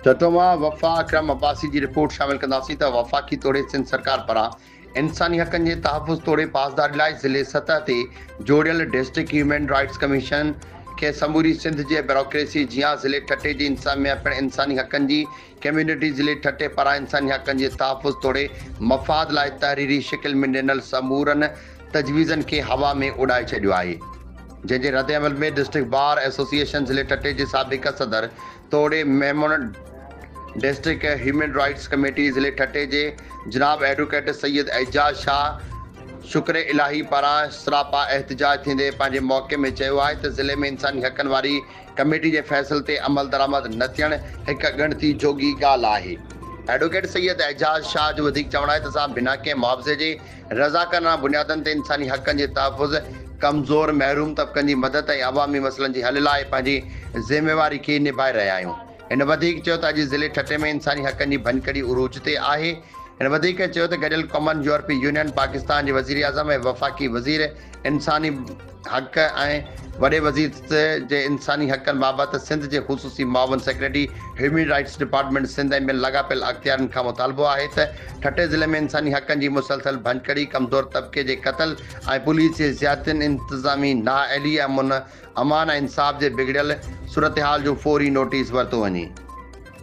ٺٽو مان وفا اڪرم عباسي جي رپورٽ شامل ڪنداسين ته وفاقي توڙي سنڌ سرڪار پاران انساني حقن جي تحفظ توڙي پاسداري لاء ضلعي سطح تي جوڙيل ڊسٽرڪٽ هيومن رائٽس ڪميشن کي سموري سنڌ جي بيوروڪريسي جيان ضلعي ٺٽي جي انتظاميا پڻ انساني حقن جي ڪميونٽي ضلعي ٺٽي پاران انساني حقن جي تحفظ توڙي مفاد لاء تحريري شڪل ۾ ڏنل سمورن تجويزن کي هوا ۾ اڏائي ڇڏيو آهي جنهن جي ردعمل ۾ ڊسٽرڪٽ بار ايسوسيئيشن ضلعي ٺٽي جي سابق صدر توڙي Memon district human rights committee ضلعي ٺٽي جي جناب ايڊوڪيٽ سيد اعجاز شاهه شڪر الاهي پاران سراپا احتجاج ٿيندي پنهنجي موقعي ۾ چيو آهي ته ضلعي ۾ انساني حقن واري ڪميٽي جي فيصل تي عملدرآمد نه ٿيڻ هڪ ڳڻتي جوڳي ڳالهه آهي. ايڊووڪيٽ سيد اعجاز شاهه جو وڌيڪ چوڻ آهي ته اسان بنا ڪنهن معاوضي جي رضاڪارانه بنيادن تي انساني حقن جي تحفظ، ڪمزور محروم طبقن جي مدد ۽ عوامي مسئلن جي حل لاء پنهنجي ذميواري کي نڀائي رهيا آهيون. هن وڌيڪ چيو ته اڄ ضلعي ٺٽي ۾ انساني حقن جي ڀڃڪڙي عروج تي آهي. هن وڌيڪ چيو ته گڏيل قومن، يورپي يونين، پاڪستان جي وزيراعظم ۽ وفاقي وزير انساني. حق ۽ وڏي وزير جي انساني حقن بابت سنڌ جي خصوصي معاون secretary human rights department Sindh ۽ ٻين لاڳاپيل اختيارين کان مطالبو آهي ته ٺٽي ضلعي ۾ انساني حقن جي مسلسل ڀڃڪڙي، ڪمزور طبقي جي قتل ۽ پوليس جي زيادتين، انتظامي نااهلي، امن، امان ۽ انصاف جي بگڙيل صورتحال جو فوري نوٽيس ورتو وڃي.